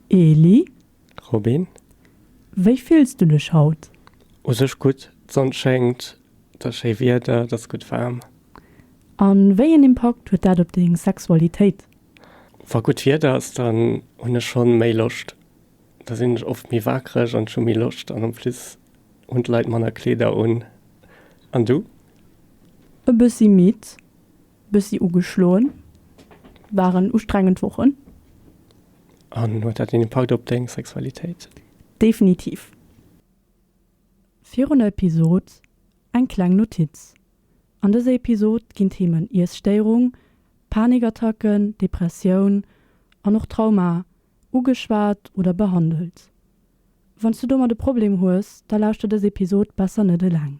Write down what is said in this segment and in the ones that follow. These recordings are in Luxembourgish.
Eli. Robin. Wéi fills du dech haut? U sech gutt, d'Sonn schéngt, et ass schéi Wieder, et ass gutt waarm. A wéi een Impakt huet dat op deng Sexualitéit? Wa gutt Wieder ass, dann hunn ech schonn méi Loscht. Da sinn ech oft méi wakereg an ech hu méi Loscht an am Fliss hunn d'Leit manner Kleeder un. An du? E bëssi midd. Bëssi ugeschloen, waren ustrengend Wochen. An huet dat een Impakt op deng Sexualitéit? Definitiv. Virun der Episod eng kleng Notiz, An dëser Episod ginn d'Themen Iesstéierung, Panikattacken, Depressioun an och Trauma ugeschwat oder behandelt. Wann s du domat e Problem hues, da lauschter dës Episod besser net eleng.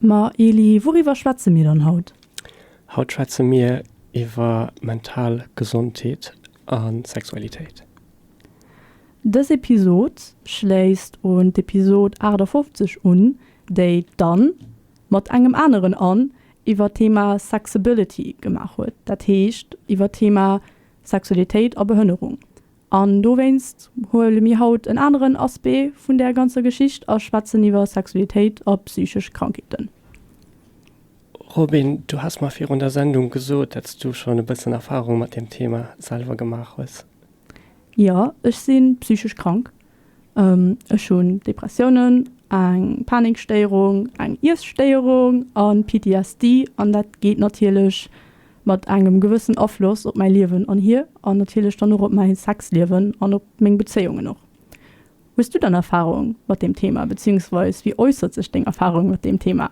Ma Eli, wouriwwer schwätze mir dann haut? Haut schwätze mir iwwer mental Gesondheet a Sexualitéit. Dës Episod schléisst un d'Episod 58 un, déi d'Anne mat engem aneren Anne iwwer d'Thema Sexability gemaach huet, dat heescht iwwer d'Thema Sexualitéit a Behënnerung. An dowéinst huele mir haut en aneren Aspect vun där ganzer Geschicht a schwätzen iwwer Sexualitéit a psychesch Krankheeten. Robin, du has mer virun der Sendung gesot, datts du schon e bëssen Erfahrung mat deem Thema selwer gemaach hues. Jo, ech si psychesch krank. Ech hunn Depressiounen, eng Panikstéierung, eng Iesstéierung an PTSD an dat geet natierlech mat engem gewëssen Afloss op mäi Liewen anhier an natierlech dann och op mäi Sexliewen an op meng Bezéiungen och. Hues du dann Erfarung mat deem Thema, bezéiungsweis wéi äussert sech deng Erfarung mat deem Thema?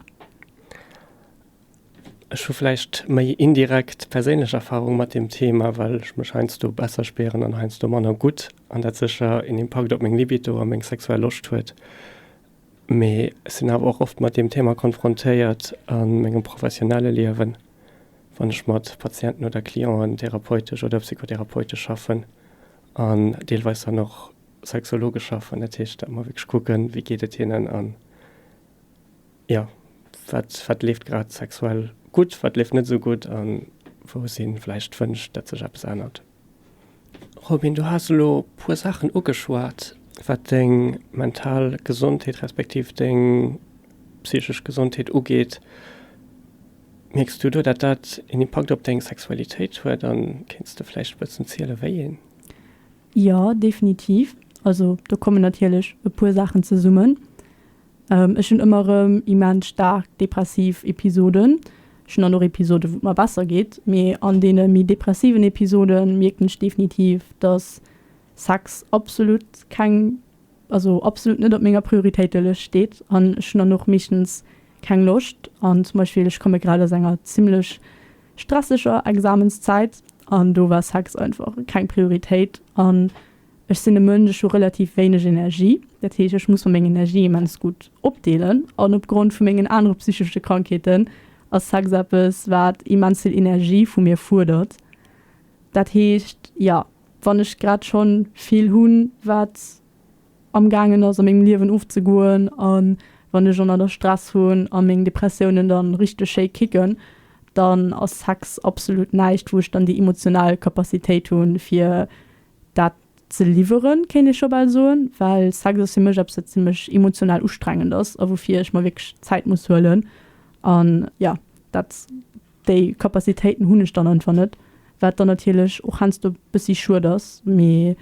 Ech hu vläicht méi indirekt perséinlech Erfarung mat deem Thema, well ech mech heiansdo besser spieren an heiansdo manner gutt an dat sécher een Impakt op meng Libido a meng sexuell Loscht huet. Mee ech sinn awer och oft mat deem Thema konfrontéiert a mengem professionelle Liewen, wann ech mat Patienten oder Clienten therapeutesch oder psychotherapeutesch schaffen an deelweis dann och sexologesch schaffen. Dat heescht, datt mer wierklech kucken, wéi geet et hinnen an. Jo, wat, wat leeft grad sexuell gutt, wat leeft net esou gutt a wou si vläicht wënscht, datt sech eppes ännert? Robin, du has elo e puer Saachen ugeschwat, wat deng mental Gesondheet respektiv deng psychesch Gesondheet ugeet. Mierks du do, datt dat een Impakt op deng Sexualitéit huet a kéints de vläicht e bëssen ziele wéi een? Jo, definitiv. Also do kommen natierlech e puer Saachen zesummen. Ech hunn ëmmer erëm immens staark depressiv Episoden. Ech hunn dann och Episoden, wou et mer besser geet. Mee an deene méi depressiven Episode mierken ech definitiv, dass Sex absolut keng, also absolut net op menger Prioritéitelëscht steet. An ech hunn dann och meeschtens keng Loscht. An zum Beispill, ech komme grad aus enger zimmlech stresseger Examenszäit an do war Sex einfach keng Prioritéit. An Ech sinn e Mënsch, ech hu relativ wéineg Energie. Dat heescht, ech muss mer meng Energie immens gutt opdeelen. An opgrond vu mengen anere psychesche Krankheeten ass Sex eppes, wat immens vill Energie vu mir fuerdert. Dat heescht, jo, wann ech grad schonn vill hunn, wat amgaangen ass a mengem Liewen ofzegoen, a wann ech ënner der Stress hunn a meng Depressiounen da richteg schéi kicken, dann ass Sex absolut näischt, wou ech dann déi emotional Capacitéit hunn, fir Dat ze liwweren, kéint ee scho bal soen, well Sex ass fir mech eppes, wat zimlech emotional ustrengend ass a woufir ech mer wierklech Zäit muss huelen. An jo, dat, déi Kapazitéiten hunn ech dann einfach net, wat dann natierlech och heiansdo e bëssi schued ass. Mee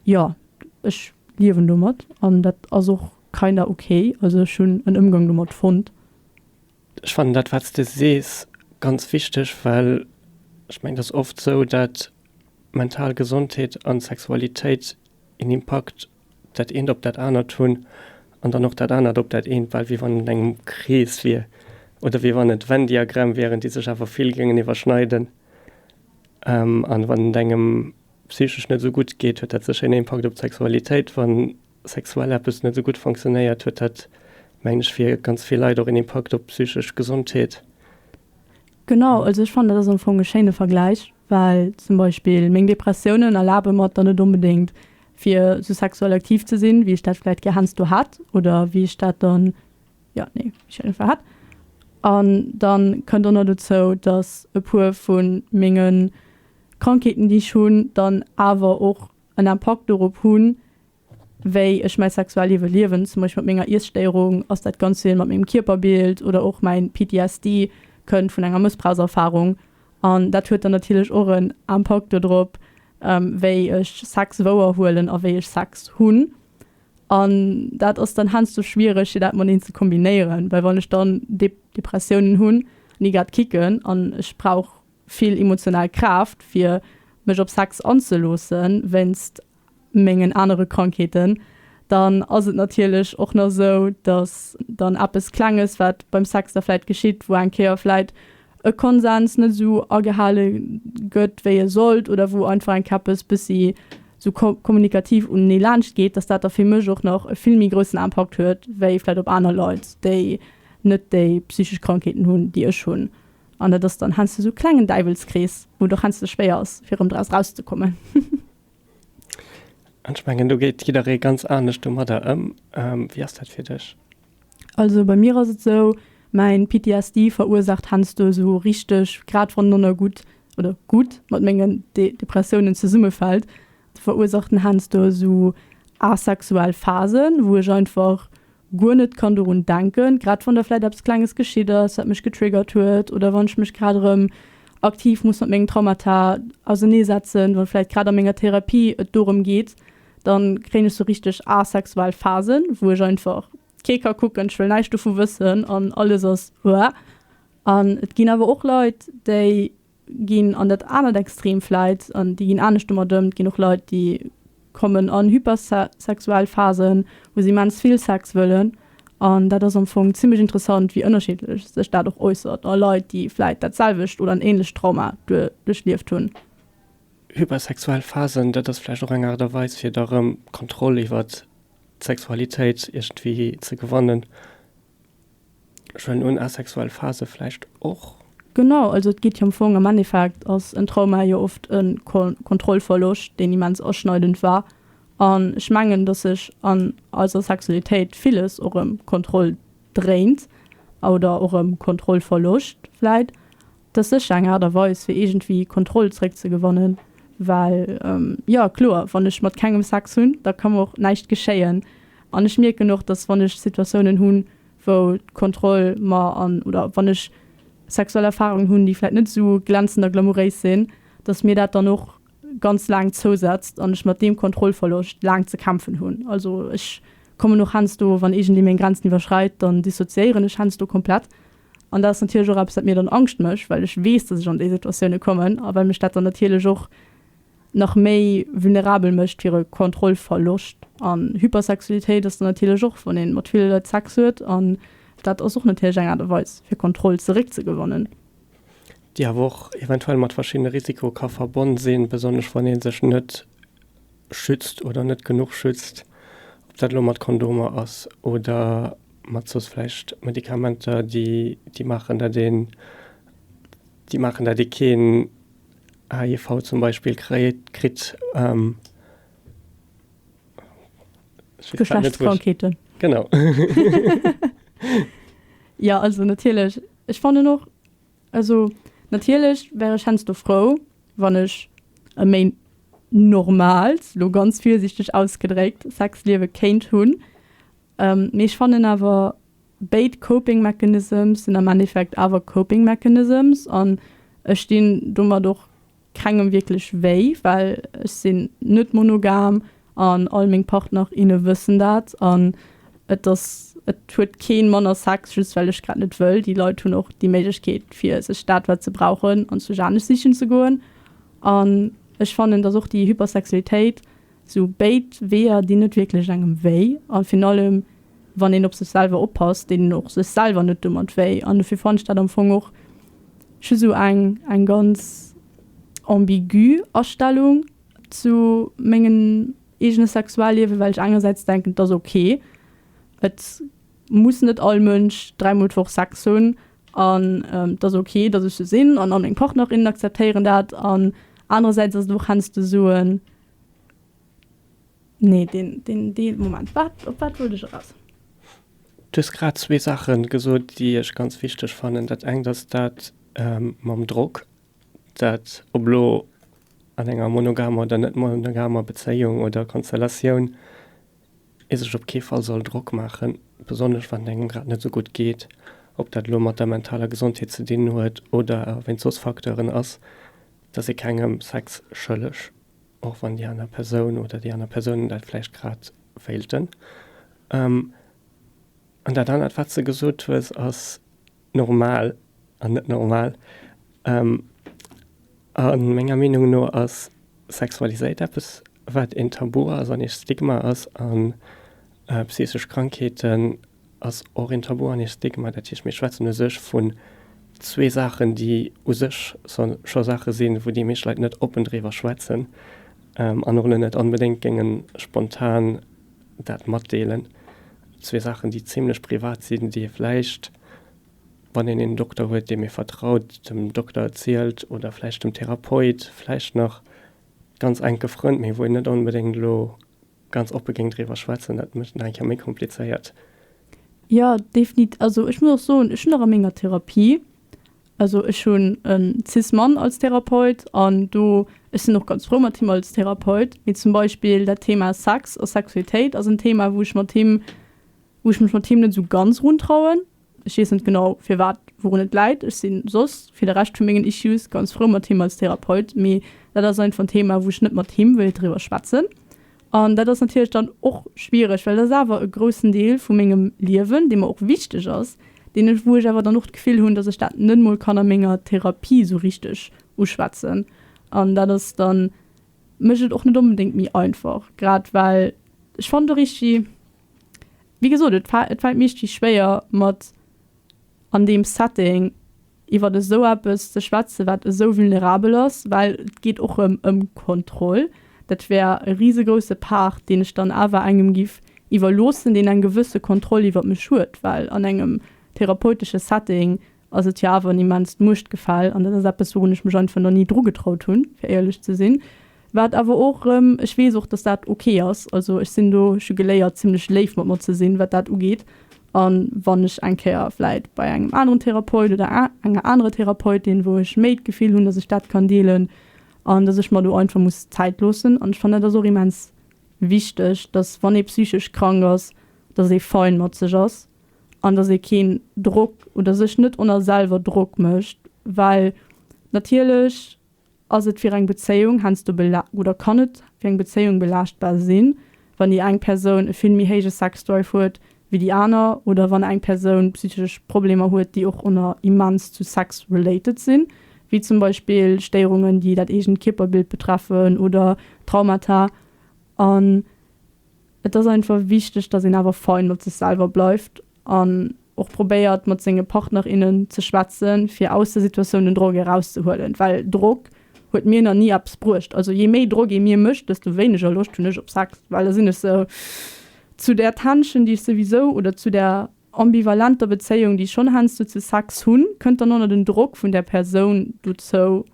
jo, ech liewen domat an dat ass och kinda ok. Also ech hunn en Ëmgang domat fonnt. Ech fannen dat, wat s de sees, ganz wichteg, well ech mengen, et ass oft esou, dat mental Gesondheet an Sexualitéit een Impakt dat eent op dat anert hunn an dann och dat anert op dat eent, bal wéi wann et an engem Krees wier oder wéi wann et Venn-Diagramm wieren, déi sech awer vill géingen iwwerschneiden. An wann et engem psychesch net esou gutt geet, huet dat sécher een Impakt op d'Sexualitéit. Wann sexuell eppes net esou gutt fonctionnéiert, huet dat, mengen ech, fir ganz vill Leit och een Impakt op d'psychesch Gesondheet. Genau, also ech fannen dat ass am Fong e schéine Vergläich, well zum Beispill meng Depressiounen erlabe mer et dann net onbedéngt fir sou sexuell aktiv ze sinn, wéi ech dat vläicht gär heiansdo hätt oder wéi ech dat dann, jo nee, wéi ech dat iergendwa hätt. An dann kënnt och nach dozou, dass e puer vu menge Krankheeten, déi ech hunn, dann awer och en Impakt dorop hunn, wéi ech mäi Sexualliewe liewen, zum Beispill mat menger Iesstéierung, ass dat ganz vill mat mengem Kierperbild oder och mäin PTSD kënnt vun enger Mëssbrauchserfarung. An dat huet dann natierlech och en Impakt dodrop, wéi ech Sex wouer huelen a wéi ech Sex hunn. An dat ass dann heiansdo schwiereg, fir dat mateneen ze kombinéieren, well wann ech dann Depressiounen hunn, ni grad kicken an ech brauch vill emotional Kraaft, fir mech op Sex anzeloossen, wéinst mengen anere Krankheeten, dann ass et natierlech och nach esou, datt dann eppes Klenges, wat beim Sex da vläit geschitt, wou eng Kéier vläit e Konsens net esou agehale gëtt, wéi e sollt, oder wou einfach eng Kéier eppes bëssi esou kommunikativ unenee laanscht geet, datt dat da fir mech och nach e vill méi groussen Impakt huet, wéi vläit op aner Leit, déi net déi psychesch Krankheeten hunn, déi ech hunn. An dat ass dann heiansdo esou e klengen Däiwelskrees, wou et och heiansdo schwéier ass, fir erëm draus erauszekommen. An ech mengen do geet jidderee ganz anescht domadder ëm. Wéi ass dat fir dech? Also bei mir ass et sou, mäin PTSD verursaacht hensdo esou richteg, grad wann Nonna gutt, oder gutt mat mengen Depressiounen zesummefällt, verursaacht en hensdo esou asexuell Phasen wou ech einfach, guer net kann dorun denken, grad wann da vläicht eppes Klenges geschitt ass, wat mech getriggert huet, oder wann ech mech grad erëm aktiv muss mat mengen Traumata ausenee setzen, wann vläicht grad a menger Therapie et dorëm geet, dann kréien ech sou richteg asexuell Phasen, wou ech einfach kee ka kucken, ech wëll näischt dovu wëssen an alles ass uah. An et ginn awer och Leit, déi ginn an dat anert Extrem vläit, an déi ginn anescht domat ëm, et ginn och Leit, déi kommen an hypersexuell Phasen, wou se immens vill Sex wëllen. An dat ass am Fong zimmlech interessant, wéi ënnerschiddlech sech dat och äussert a Leit, déi vläit dat selwecht oder en änlecht Trauma duerchlieft hunn. Hypersexuell Phasen, dat ass vläicht och eng Aart a Weis, fir da rëm Kontroll iwwert d'Sexualitéit iergendwéi ze gewannen. Schwellen un asexuell Phase vläicht och? Genau, also et geet jo am Fong, am Endeffekt ass en Trauma jo oft e Kontrollverloscht, deen immens aschneidend war. An ech mengen, dass sech an eiser Sexualitéit villes och ëm Kontroll dréint oder och ëm Kontrollverloscht vläit. T'ass sécher eng Art a Weis fir iergendwéi Kontroll zréck ze gewannen, well jo kloer, wann ech mat kengem Sex hunn, da ka mer och näischt geschéien. An ech mierken och, dass wann ech Situatiounen hunn, wou d'Kontroll mer an, oder wann ech sexuell Erfarungen hunn, déi vläit net esou glänzend a glamouréis sinn, dass mir dat dann och ganz laang zousetzt an ech mat deem Kontrollverloscht laang ze kämpfen hunn. Also ech kommen och hännsdo, wann iergendee meng Grenzen iwwerschreit, dann dissoziéieren ech hännsdo komplett. An dat ass natierlech och eppes, wat mir dann Angscht mécht, well ech weess, datt ech an déi Situatioune kommen a well mech dat dann natierlech och nach méi vulnerabel mécht fir e Kontrollverloscht. An Hypersexualitéit ass dann natierlech och, wann ee mat ville Leit Sex huet an dat ass och natierlech eng Aart a Weis, fir Kontroll zeréckzegewannen. Déi awer och eventuell mat verschiddene Risiko ka verbonn sinn, besonnesch wann ee sech net schützt oder net genuch schützt, ob dat elo mat Kondomer ass oder mat soss vläicht Medikamenter, déi, déi maachen, datt een, déi maachen, datt ee keen HIV zum Beispill kréit, kritt. Geschlechtskrankheeten. Genau. Jo, also natierlech, ech fannen och, also natierlech wär ech heiansdo frou, wann ech e méi normaalt, elo ganz virsiichteg ausgedréckt, Sexliewe kéint hunn. Mee ech fannen awer, béid Coping Mechanisms sinn am Endeffekt awer Coping Mechanisms an ech dinn domat och kengem wierklech wéi, well ech sinn net monogam an all meng Partner, inne wëssen dat. An et ass, et huet kee manner Sex, just well ech grad net wëll. Déi Leit hunn och déi Méiglechkeet, fir sech dat, wat se brauchen, anzwousch anescht sichen ze goen. An ech fannen, dass och déi Hypersexualitéit Sou béid Weeër dinn net wierklech engem wéi, a virun allem wann een op sech selwer oppasst, deet een och sech selwer net domat wéi. An dofir fannen ech dat am Fong och just esou eng eng ganz ambigü Astellung zu mengem eegene Sexualliewen, well ech engersäits denken, et ass ok, et muss net all Mënsch dräimol d'Woch Sex hunn, an et ass ok, datt ech sou sinn, an all meng Partnerinnen akzeptéieren dat, an anerersäits ass et och heiansdo esou en Nee, deen, deen, deen Moment. Wat, op wat wollt ech eraus? Du hues grad zwee Saache gesot, déi ech ganz wichteg fannen. Dat engt ass dat mam Drock, dat ob elo an enger monogamer oder net monogamer Bezéiung oder Konstellatioun ee sech op kee Fall soll Drock maachen, besonnesch wann et engem grad net esou gutt geet, ob dat elo mat der mentaler Gesondheet ze dinn huet oder wéinst soss Facteuren ass. dass ee kengem Sex schëlleg, och wann déi aner Persoun oder déi aner Persounen dat vläicht grad wéilten. An dat anert, wat s de gesot hues, ass normal an net normal. A menger Meenung no ass Sexualitéit eppes, wat een Tabu ass an ee Stigma ass a psychesch Krankheeten, ass och een Tabu an ee Stigma. Dat heescht, mir schwätzen u sech vun zwee Saachen, déi u sech scho Saache sinn, wou déi meescht Leit net oppen driwwer schwätzen an och net onbedéngt géinge spontan dat matdeelen. Zwee Saachen, déi zimmlech privat sinn, déi ee vläicht, wann een een Dokter huet, deem ee vertraut, dem Dokter erzielt oder vläicht dem Therapeut, vläicht nach ganz enke Frënn, mee wou een net onbedéngt elo Ganz oppe géing driwwer schwätzen, dat mécht et nach eng Kéier méi komplizéiert. Jo, definit, also ech muss och soen, ech hunn och a menger Therapie, also ech hunn e Cis-Mann als Therapeut an do, ech sinn och ganz frou mat him als Therapeut, mee zum Beispill dat Thema Sex a Sexualitéit ass en Thema, wou ech mat him, wou ech mech mat him net esou ganz runtrauen. Ech weess net genau firwat, wourun et läit. Ech sinn soss fir de Rescht vu mengen Issues ganz frou mat him als Therapeut, mee dat ass einfach en Thema wou ech net mat him wéilt driwwer schwätzen. An dat ass natierlech dann och schwiereg, well et ass awer e groussen Deel vu mengem Liewen, dee mer och wichteg ass, deen ech, wou ech awer dann och d'Gefill hunn, datt ech dat net mol kann a menger Therapie esou richteg uschwätzen. An dat ass dann, mécht et och net onbedéngt méi einfach, grad well ech fannen de Richie, Wéi gesot, et fält mir ichtig schwéier mat an deem Setting iwwert esou eppes ze schwätzen, wat esou vulnerabel ass, well et geet och ëm ëm Kontroll. Dat wär e risegrousse Part, deen ech dann awer engem giff iwwerloossen, deen eng gewësse Kontroll iwwert mech huet, well an engem therapeutesche Setting ass et jo awer en immenst Muechtgefäll, an dat ass eppes, wourun ech mech einfach nach ni dru getraut hunn, fir éierlech ze sinn. Wat awer och erëm, ech weess och, datt dat ok ass, also ech sinn do, ech hu geléiert, zimmlech léif mat mer ze sinn, wat dat ugeet. A wann ech eng Kéier vläit bei engem aneren Therapeut oder enger anerer Therapeutin, wou ech méi d'Gefill hunn, datt ech dat kann deelen, an datt ech mer do einfach muss Zäit loossen. An ech fannen, dat ass och immens wichteg, datt wann ee psychesch krank ass, datt ee fein mat sech ass, an dass ee keen Drock oder sech net on a selwer Drock mécht, well natierlech ass et fir eng Bezéiung heiansdo bela oder kann et fir eng Bezéiung belaaschtbar sinn, wann déi eng Persoun e vill méi héije Sexdrive huet wéi déi aner oder wann eng Persoun psychesch Problemer huet, déi och ëmmer immens zu Sex related sinn, wéi zum Beispill Stéierungen, déi dat eegent Kierperbild betreffen oder Traumata. An. Et ass einfach wichteg, dass een awer fein mat sech selwer bleift an och probéiert mat senge Partner, innen ze schwätzen, fir aus der Situatioun den Drock erauszehuelen, well Drock huet mir nach ni eppes bruecht. Also jee méi Drock ee mir mécht, desto wéineger Loscht hunn ech op Sex, well da sinn ech sou zu där Tension, déi ech souwisou, oder zu där ambivalenter Bezéiung, déi ech schonn heiansdo zu Sex hunn, kënnt dann och nach den Drock vun där Persoun dozou,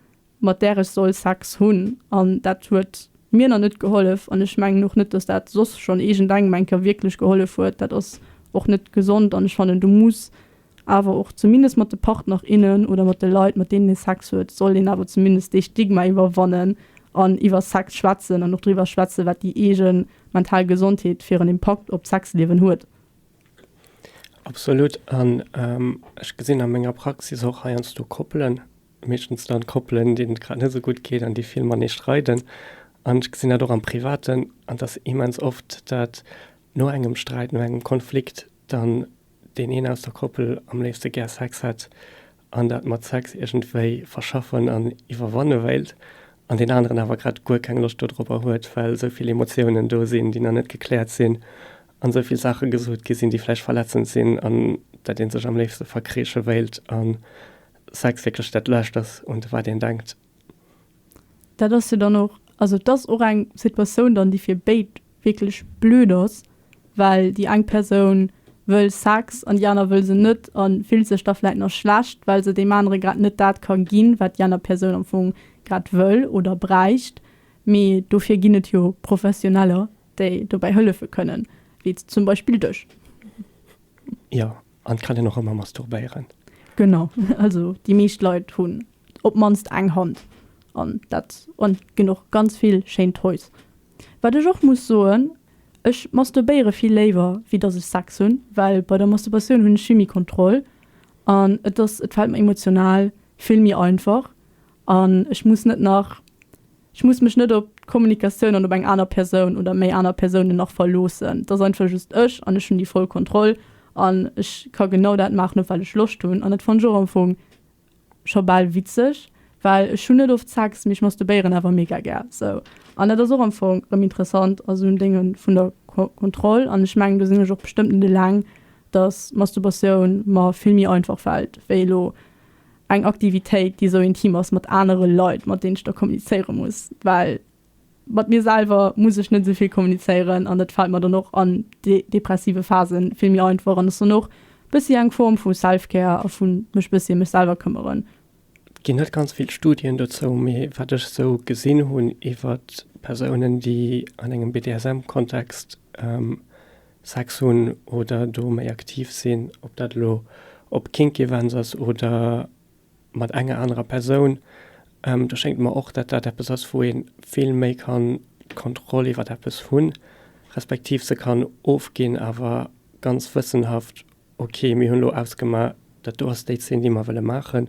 mat där ech soll Sex hunn, an dat huet mir nach net gehollef, an ech mengen och net, datt dat soss schonn iergendengem eng Kéier wierklech gehollef huet. Dat ass och net gesond, an ech fannen, do muss awer och zumindest mat de Partner, innen oder mat de Leit, mat deenen ee Sex huet, soll een awer zumindest dee Stigma iwwerwannen an iwwer Sex schwätzen an och driwwer schwätzen, wat déi eege mental Gesondheet fir en Impakt op d'Sexliewen huet. Absolut. An ech gesinn a menger Praxis och heiansdo Koppelen, meeschtens dann Koppelen déi et grad net esou gutt geet an déi vill matenee streiden an ech gesinn dat och am Privaten an dass immens oft dat no engem Sträit, no engem Konflikt dann deen een aus der Koppel am léifste gär Sex hätt an dat mat Sex iergendwéi verschaffen an iwwerwanne wéilt an deen aneren awer grad guer keng Loscht dodropper huet, well esou vill Emotiounen do sinn déi nach net gekläert sinn an esou vill Saache gesot gi sinn déi vläicht verletzend sinn an dat ee sech am léifste verkreesche wéilt an Sex wierklech dat Lescht ass, un wat een denkt. Dat ass jo dann och, also et ass och eng Situatioun dann, déi fir béid wierklech blöd ass, well déi eng Persoun wëll Sex an déi aner wëll se net a fillt sech da vläicht nach schlecht, well se deem anere grad net dat ka ginn, wat déi aner Persoun am Fong grad wëll oder bräicht. Mee dofir ginn et jo Professioneller, déi dobäi hëllefe kënnen, wéi zum Beispill dech. Jo, An kann en och emmer masturbéieren? Genau, also déi meescht Leit hunn op d'mannst eng Hand an dat an ginn och ganz vill schéin Toys. Wat ech och muss soen, ech masturbéiere vill léiwer wéi dass ech Sex hunn, well bei der Masturbation hunn ech vill méi Kontroll an et ass, et fält mer emotional vill méi einfach An ech muss net nach, ech muss mech net op d'Kommunikatioun an op eng aner Persoun oder méi aner Persounen nach verloossen. Et ass einfach just ech an ech hunn déi voll Kontroll an ech ka genau dat maachen, op wat ech Loscht hunn. An dat fannt ech och am Fong scho bal witzeg, well ech hunn net oft Sex, mee ech masturbéieren awer mega gär sou. An dat ass och am Fong rëm interessant a sou en Dénge vun der Kontroll. An ech mengen, do sinn ech och bestëmmt net eleng, dass Masturbatioun mer vill méi einfach fält wéi elo eng Aktivitéit, déi esou intim ass mat anere Leit, mat deenen ech da kommunizéiere muss, well mat mir selwer muss ech net esou vill kommunizéieren an dat fält mer dann och an depressive Phase vill méi einfach an ass dann och e bëssi eng Form vu Self-Care a vu mech e bëssi ëm mech selwer këmmeren. Et ginn net ganz vill Studien dozou, mee wat ech esou gesinn hunn iwwert Persounen, déi an engem BDSM-Kontext, Sex hunn oder do méi aktiv sinn, ob dat elo op Kink-Events ass oder mat enger anerer Persoun, do schéngt mer och, datt dat eppes ass, wou ee vill méi kann d'Kontroll iwwert eppes hunn, respektiv se kann ofginn, awer ganz wëssenhaft, ok, mir hunn elo ausgemaach, dat do ass déi Zeen, déi mer wëlle maachen,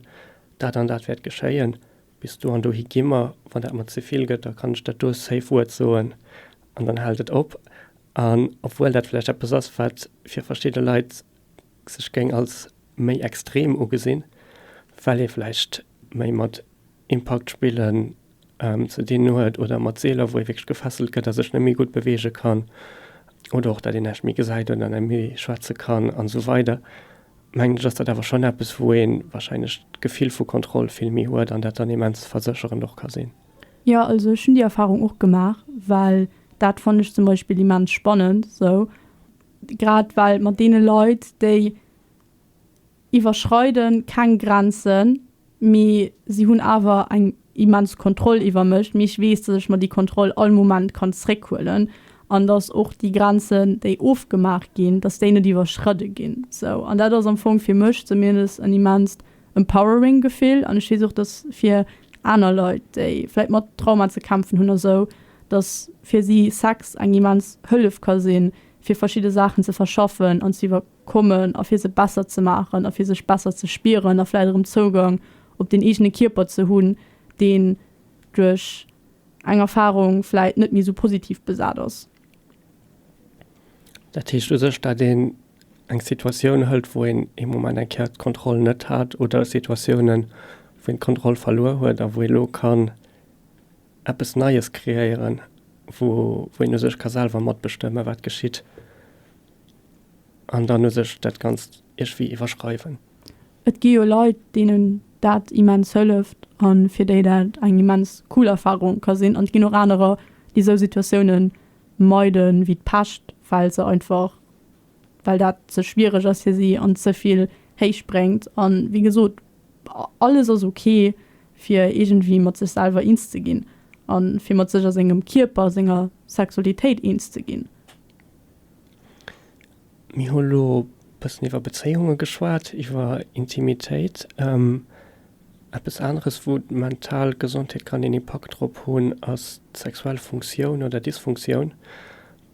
dat an dat wäert geschéien, bis do an dohi gi mer, wann dat mer ze vill gëtt, da kann ech dat do safe Wuert soen an dann hält et op. An obwuel dat vläicht eppes ass, wat fir verschidde Leit sech géing als méi extrem ugesinn, well ee vläicht méi mat Impaktspillen ze dinn huet oder mat Seeler, wou ee wierklech gefesselt gëtt a sech net méi gutt beweege kann oder och, datt een näischt méi gesäit oder net méi schwätze kann an esou weider, mengen ech, ass dat awer schonn eppes, wou ee warscheinlech d'Gefill vu Kontroll vill méi huet an dat dann immens versécherend och ka sinn. Jo also ech hunn déi Erfahrung och gemaach, well dat fannen ech zum Beispill immens spannend esou. Grad well mat deene Leit déi iwwerschreiden keng Grenzen, mee si hunn awer eng immens Kontroll iwwer mech, mee ech weess dass ech mer déi Kontroll all Moment kann zréck huelen an dass och déi Grenzen déi ofgemaach ginn, dass déi net iwwerschridde ginn esou. An dat ass am Fong fir mech zumindest en immenst empowering Gefill an ech weess och, dass fir aner Leit, déi vläit mat Trauma ze kämpfen hunn a sou, dass fir si Sex eng immens Hëllef ka sinn, fir verschidde Saachen ze verschaffen an ze iwwerkommen a fir se besser ze maachen a fir sech besser ze spieren a vläit erëm Zougang op den eegene Kierper ze hunn, deen duerch eng Erfarung vläit net méi sou positiv besat ass. Dat heescht u sech, dat een eng Situatioun hëlt, wou een ee Moment eng Kéier d'Kontroll net hat oder Situatiounen, wou een d'Kontroll verluer huet a wou ee lo kann eppes Neies kreéieren, wou een u sech ka selwer matbestëmmen, wat geschitt an dann u sech dat Ganzt iergwéi iwwerschreiwen. Et gi jo Leit, deenen dat immens hëlleft a fir déi dat eng immens cool Erfarung ka sinn. An et ginn och anerer, déi esou Situatioune meide wéi d'Pescht, well se einfach, well dat ze schwiereg ass fir si an ze vill héich bréngt. A wéi gesot, alles ass ok, fir iergendwéi mat sech selwer eens ze ginn a fir mat sech a sengem Kierper, senger Sexualitéit eens ze ginn. Mir hu lo bëssen iwwer Bezéiunge geschwat, iwwer Intimitéit. Eppes aneres, wou d'mental Gesondheet kann een Impakt drop hunn, ass d'sexuell Funktioun oder Dysfunktioun.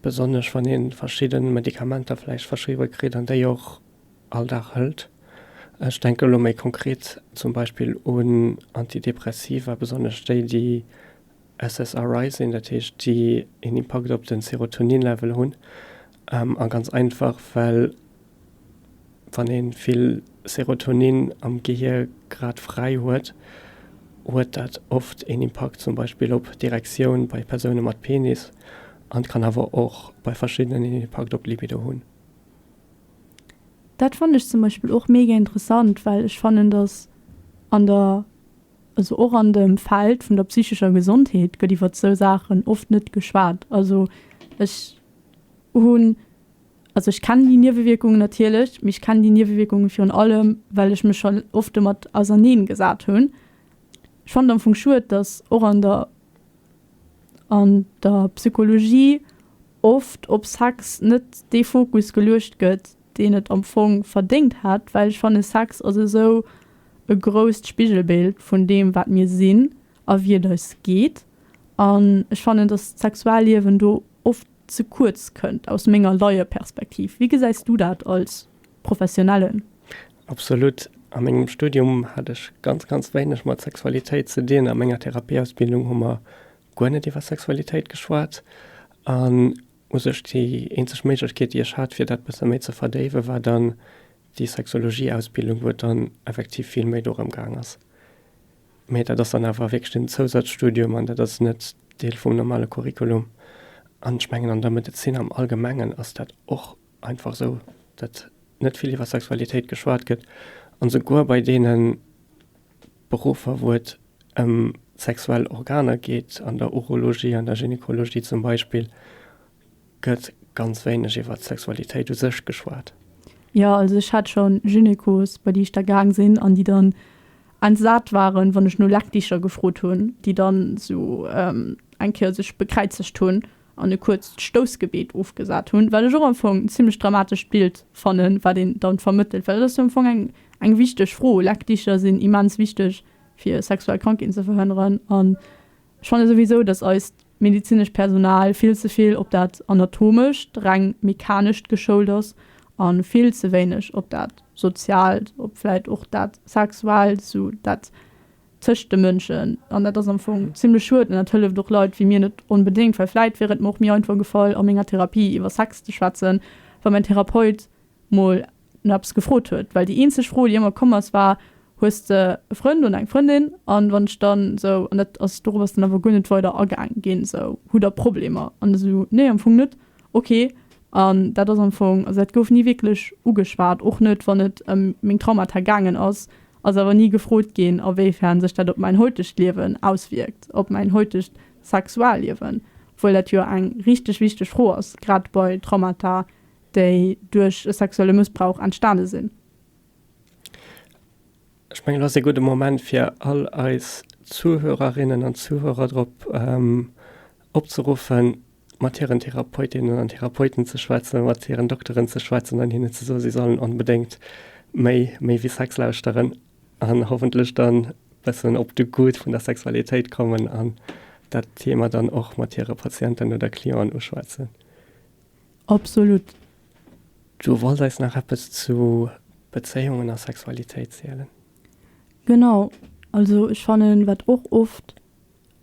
Besonnesch wann ee verschidde Medikamenter vläicht verschriwwe kritt an déi och all Dag hëlt. Ech denken elo méi konkret zum Beispill un Antidepressiva, besonnesch déi, déi SSRI sinn, dat heescht, déi een Impakt op de Serotonin-Level hunn. A ganz einfach, well wann ee vill Serotonin am Gehier grad fräi huet, huet dat oft een Impakt zum Beispill op d'Erektioun bei Persoune mat Penis an kann awer och bei verschiddenen een Impakt op d'Libido hunn. Dat fannen ech zum Beispill och mega interessant, well ech fannen, dass an der, also och an dem Feld vun der psychescher Gesondheet gëtt iwwert sou Saachen oft net geschwat. Also ech hunn. Also ech kennen déi Niewewierkungen natierlech, mee ech kennen déi Niewewierkungen virun allem, well ech mech scho oft domat auserneen gesat hunn. Ech fannen et am Fong schued, datt och an der, an der Psychologie oft op Sex net dee Fokus geluecht gëtt, deen et am Fong verdéngt hätt, well ech fanne Sex ass esou e grousst Spigelbild vun deem, wat mir sinn. a wie et eis geet. An ech fannen, datt d'Sexualliewen do oft ze kuerz kënnt, aus menger Laieperspektiv. Wéi gesäis du dat als Professionellen? Absolut. A mengem Studium hat ech ganz, ganz wéineg mat Sexualitéit ze dinn. A menger Therapieausbildung hu mer guer net iwwer Sexualitéit geschwat. An u sech déi eenzeg Méiglechkeet, déi ech hat, fir dat bësse méi ze verdéiwen, war dann déi Sexologieausbildung, wou et dann effektiv vill méi dorëm gaang ass, Mee dat ass dann awer wierklech en Zousazstudium an dat ass net Deel vum normale Curriculum. An ech mengen an der Medezin am Allgemengen ass dat och einfach esou, datt net vill iwwer Sexualitéit geschwat gëtt. An esouguer bei deene Beruffer, wou et ëm d'sexuell Organer geet, an der Urologie, an der Gynekologie zum Beispill, Gëtt ganz wéineg iwwer d'Sexualitéit u sech geschwat. Jo, also ech hat schon Gynekos bei déi ech da gaang sinn an déi dann entsat waren wann ech no Leckdicher gefrot hunn, déi dann sou eng Kéier sech bekräizegt hunn an e kuerzt Stoussgebet ofgesat hunn, wat ech och am Fong en zimlech dramatescht Bild fannen, wat een dann vermëttelt, well et ass jo am Fong eng wichteg Fro. Leckdicher sinn immens wichteg fir sexuell Krankheeten ze verhënneren an Ech fanne souwisou, dass eist medezinescht Personal vill ze vill op dat Anatomescht, reng Mechanescht geschoult ass a vill ze wéineg op dat Soziaalt, op vläit och dat Sexuaalt, sou dat tëscht de Mënschen. An dat ass am Fong zimmlech schued an dat hëlleft och Leit wéi mir net onbedéngt, well vläit wier et mer och méi einfach gefall a menger Therapie iwwer Sex ze schwätzen, wa mäin Therapeut mol no eppes gefrot huet, well déi eenzeg Fro déi ëmmer komm ass war, hues de e Frënd oder eng Frëndin? An wann ech dann esou, an dat ass, dorop ass dann awer guer net weider agaang ginn, esou, hutt der Problemer? An esou, nee am Fong net. Ok. An dat ass am Fong, also dat gouf ni wierklech ugeschwat, och net wann et ëm meng Traumata gaangen ass, ass awer ni gefrot ginn a wéi fern sech dat op mäin heutegt Liewen auswierkt, op mäin heutegt Sexualliewen, obwuel dat jo eng richteg wichteg Fro ass, grad bei Traumata déi duerch e sexuelle Mëssbrauch entstane sinn. Ech mengen, et ass ee gudde Moment, fir all eis Zuhörerinnen an Zuhörer drop opzeruffen, mat hiren Therapeutinnen an Therapeuten ze schwätzen, mat hiren Dokteren ze schwätzen an hinnen ze soen, si sollen onbedéngt méi méi wéi Sex lauschteren an hoffentlech dann e bëssen op de Goût vun der Sexualitéit kommen an dat Thema dann och mat hire Patienten oder Clienten uschwätzen. Absolut. Du wolls eis nach eppes zu Bezéiungen a Sexualitéit zielen? Genau, also ech fannen wat och oft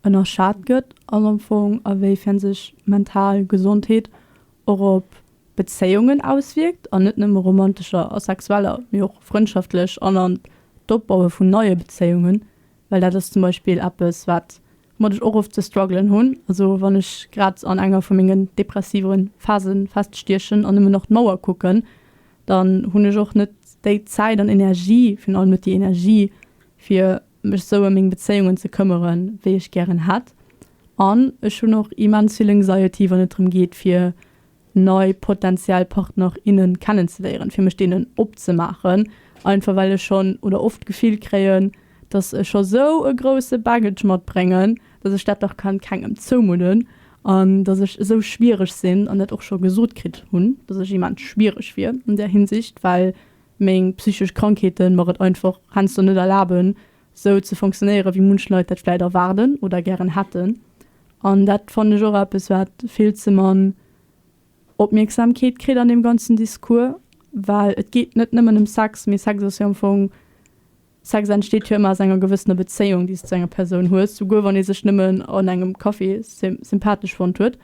ënnerschat gëtt ass am Fong a wéi fern sech mental Gesondheet och op Bezéiungen auswierkt an net nëmme romantescher a sexueller mee och frëndschaftlech an an d'Opbaue vun neie Bezéiungen. Well dat ass zum Beispill eppes, wat woumat ech och oft ze struggelen hunn. Also wann ech grad an enger vu mengen depressive Phase feststiechen an nëmmen nach d'Mauer kucken, dann hunn ech och net déi Zäit an Energie, virun allem net déi Energie, fir mech esou ëm meng Bezéiungen ze këmmeren, wéi ech gären hätt. An ech hunn och immens vill Anxiety, wann et drëm geet, fir nei potentiell Partner, innen kennenzeléieren, fir mech deenen opzemaachen, einfach well ech schonn oder oft d'Gefill kréien, dass ech scho sou e grousse Baggage matbréngen, dass ech dat dach kann kengem zoumudden an dass ech esou schwiereg sinn an dat och scho gesot kritt hunn, dass ech immens schwiereg wier an där Hinsicht, well meng psychesch Krankheete mer et einfach heiansdo net erlaben, sou ze funktionéieren, wéi munch Leit dat vläit erwaarden oder gären hätten. An dat fannen ech och eppes, wat vill ze mann Opmierksamkeet kritt an deem ganzen Discours. Well et geet net nëmmen ëm Sex, mee Sex ass jo am Fong, Sex entsteet jo ëmmer aus enger gewëssener Bezéiung, déi s de zu enger Persoun hues, souguer wann ee sech nëmmen an engem Café sympathesch fonnt huet.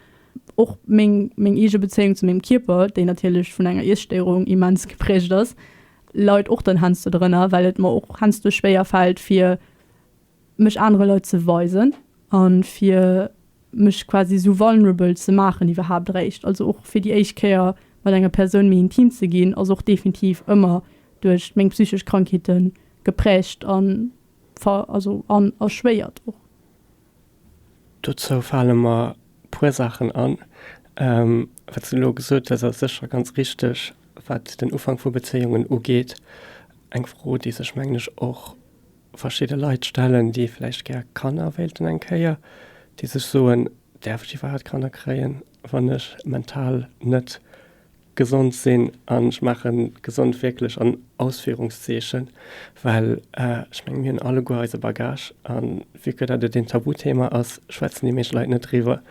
Och meng eege Bezéiung zu mengem Kierper, déi natierlech vun enger Iesstéierung immens gepräägt ass, Leit och dann hensdo drënner, well et mer och hensdo schwéier fällt fir mech anere Leit ze weisen an fir mech quasi esou vulnerable ze maachen iwwerhaapt eréischt. Also och fir déi éischt Kéier mat enger Persoun méi intim ze ginn ass och definitiv ëmmer duerch meng psychesch Krankheeten geprägt an ver also an erschwéiert och. Dozou fale mer e puer Saachen an. Wat s de elo gesot hues, ass sécher ganz richteg, wat den Ufank vu Bezéiungen ugeet. Eng Fro, déi sech, mengen ech, och verschidde Leit stellen, déi vläicht gär Kanner wéilten eng Kéier, déi sech soen, Däerf ech iwwerhaapt Kanner kréien, wann ech mental net Gesond sinn, an ech maachen gesond wierklech an Ausführungszeechen, well ech mengen, mir hunn alleguer eise Bagage, a vu que dat et een Tabuthema ass, schwätzen déi meescht Leit net driwwer,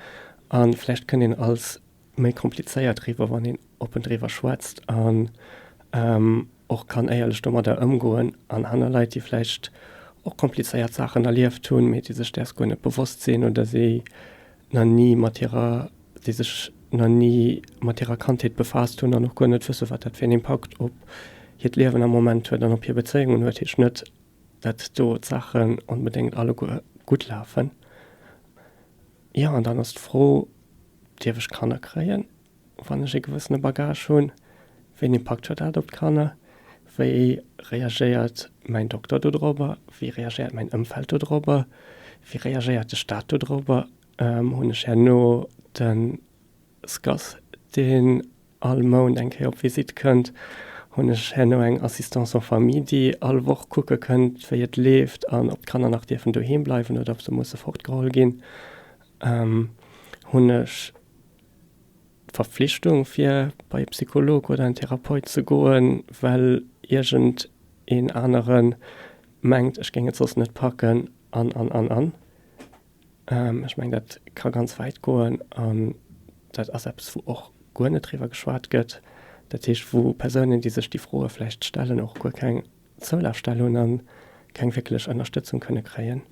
a vläicht kënnt een als méi komplizéiert riwwer, wann een oppen driwwer schwätzt an och kann éierlech domadder ëmgoen. An aner Leit, déi vläicht och komplizéiert Saachen erlieft hunn, mee déi sech däers guer net bewosst sinn oder si nach ni mat hirer, déi sech nach ni mat hirer Kandheet befaasst hunn an och guer net wësse wat dat fir een Impakt op hiert Liewen am Moment huet an op hir Bezéiungen huet, heescht net, dat do d'Saachen onbedéngt alleguer gutt lafen. Jo, an dann ass d'Fro, dierf ech Kanner kréien? Wann ech ee gewëssene Bagage hunn, wéi en Impakt huet dat op d'Kanner? Wéi reagéiert mäin Dokter dodrobber? Wéi reagéiert mäin Ëmfeld dodrobber? Wéi reagéiert de Staat dodrobber? Hunn ech herno de SCAS, deen all Mount eng Kéier op Visitt kënnt? Hunn ech herno eng Assistance en famille, déi all Woch kucke kënnt, wéi et leeft an ob d'Kanner nach dierfen doheem bleiwen oder ob se musse fortgeholl ginn? Hunn ech. D'Verpflichtung fir bei e Psycholog oder en Therapeut ze goen, well iergend een anere mengt, ech géing et soss net packen an, an, an, an. Ech mengen, dat ka ganz wäit goen an dat ass eppes, wou och guer net driwwer geschwat gëtt. Dat heescht, wou Persounen, déi sech déi Froe vläicht stellen, och guer keng Zoulafstell hunn a keng wierklech Ënnerstëtzung kënne kréien.